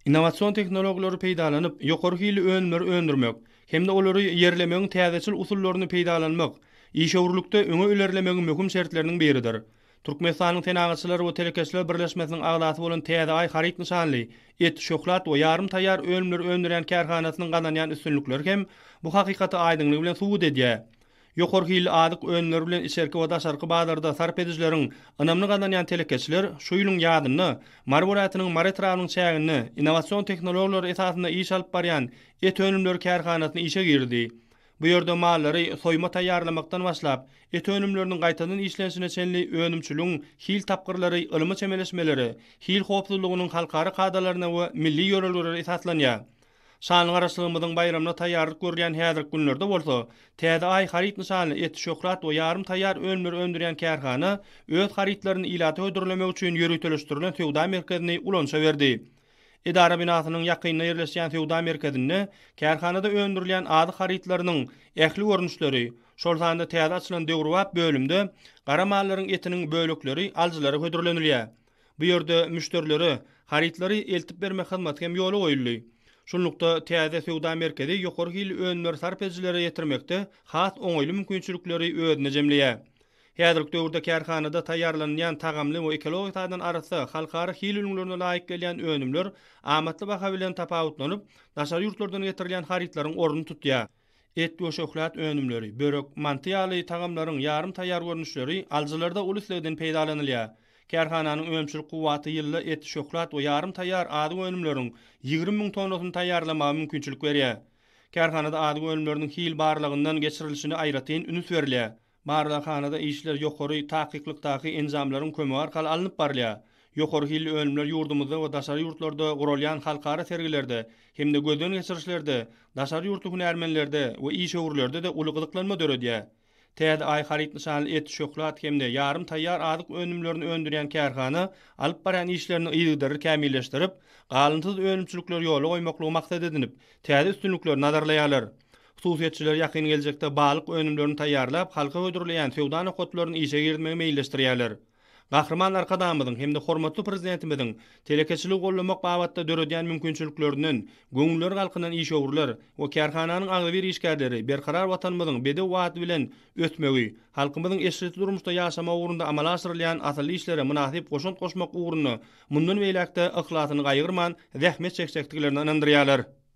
Innowasion tehnologiýalary peýdalanyp, ýokary hilli önümleri öndürmek hem-de olary ýerlemegiň täzeçil usullaryny peýdalanmak işewürlikde öňe ilerlemegiň möhüm şertleriniň biridir. Türkmenistanyň Senagatçylar we telekeçiler birleşmesiniň agzasy bolan Täze Aý haryt nyşanly et, şöhlat we ýarym taýýar önümleri öndürýän kärhanasynyň gazanýan üstünlikleri hem bu hakykaty aýdyňlygy bilen subut edýär. Ýokary hilli azyk önümleri bilen içerki we daşarky bazarda sarp edijileriň ynamyny gazanýan telekeçiler şu ýylyň ýazynda Mary welaýatynyň Mary etrabynyň çäginde innowasion tehnologiýalar esasynda iş alyp barýan et önümleri kärhanasyny işe girdi. Bu ýerde mallary soýuma taýýarlamakdan başlap, et önümleriniň gaýtadan işlenişine çenli önümçiligiň hil tapgyrlary ylmy çemeleşmelere, hil howpsuzlygynyň halkara kadalaryna we milli ýörelgelere esaslanýar. Şanly Garaşlygymyzyň baýramyna taýýarlyk görülýän häzirki günlerde bolsa, Täze Aý haryt nyşanly et, şöhrat we ýarym taýýar önümleri öndürýän kärhana öz harytlaryny ilata hödürlemek üçin ýöriteleşdirilen söwda merkezini ulanyşa berdi. Edara binasynyň ýakynda ýerleşýän söwda merkezinde kärhanada öndürilýän azyk harytlarynyň ähli görnüşleri, şol sanda täze açylan döwrebap bölümde gara mallaryň etiniň bölekleri alyjylara hödürlenilýär. Bu ýerde müşderilere harytlary eltip bermek hyzmaty hem ýola goýuldy. Şunlukda, täze söwda merkezi ýokary hilli önümleri sarp edijilere ýetirmekde has oňaýly mümkinçilikleri özünde jemleýär. Häzirki döwürde kärhanada taýýarlanylýan tagamly we ekologik taýdan arassa, halkara hil ülňülerine laýyk gelýän önümler amatly baha bilen tapawutlanyp, daşary ýurtlardan getirilýän harytlaryň ornuny tutýar. Et we şöhlat önümleri, börek, manty ýaly tagamlaryň ýarym taýýar görnüşleri alyjylarda uly islegden peýdalanylýar. Kärhananyň önümçilik kuwwaty ýylda et, şöhlat we ýarym taýýar azyk önümleriň ýigrimi müň tonnasyny taýýarlamaga mümkinçilik berýär. Kärhanada azyk önümleriniň hil barlagyndan geçirilişine aýratyn üns berilýär. Barlaghanada işler ýokary takyklykdaky enjamlaryň kömegi arkaly alnyp barylýar. Ýokary hilli önümler ýurdumyzda we daşary ýurtlarda guralýan halkara sergilerde hem-de gözden geçirişlerde, daşary ýurtly hünärmenlerde we işewürlerde-de uly gyzyklanma döredýär. Täze Aý haryt nyşanly et, şöhlat hem-de ýarym taýýar azyk önümlerini öndürýän kärhana alyp barýan işlerini yzygiderli kämilleşdirip, galynsyz önümçilikleri ýola goýmaklygy maksat edinip, täze üstünlikleri nazarlaýarlar. Hususyýetçiler ýakyn geljekde balyk önümlerini taýýarlap, halka hödürleýän söwda nokatlaryny işe girizmegi meýilleşdirýärler. Gahryman Arkadagymyzyň hem-de hormatly Prezidentimiziň telekeçiligi goldamak babatda döredýän mümkinçiliklerinden göwünleri galkynan işewürler we kärhananyň agzybir işgärleri Berkarar Watanymyzyň bedew bady bilen ösmegi, halkymyzyň eşretli durmuşda ýaşamagy ugrunda amala aşyrylýan asylly işlere mynasyp goşant goşmak ugrunda mundan beýläk-de yhlasyny gaýgyrman zähmet çekjekdiklerine ynandyrýarlar.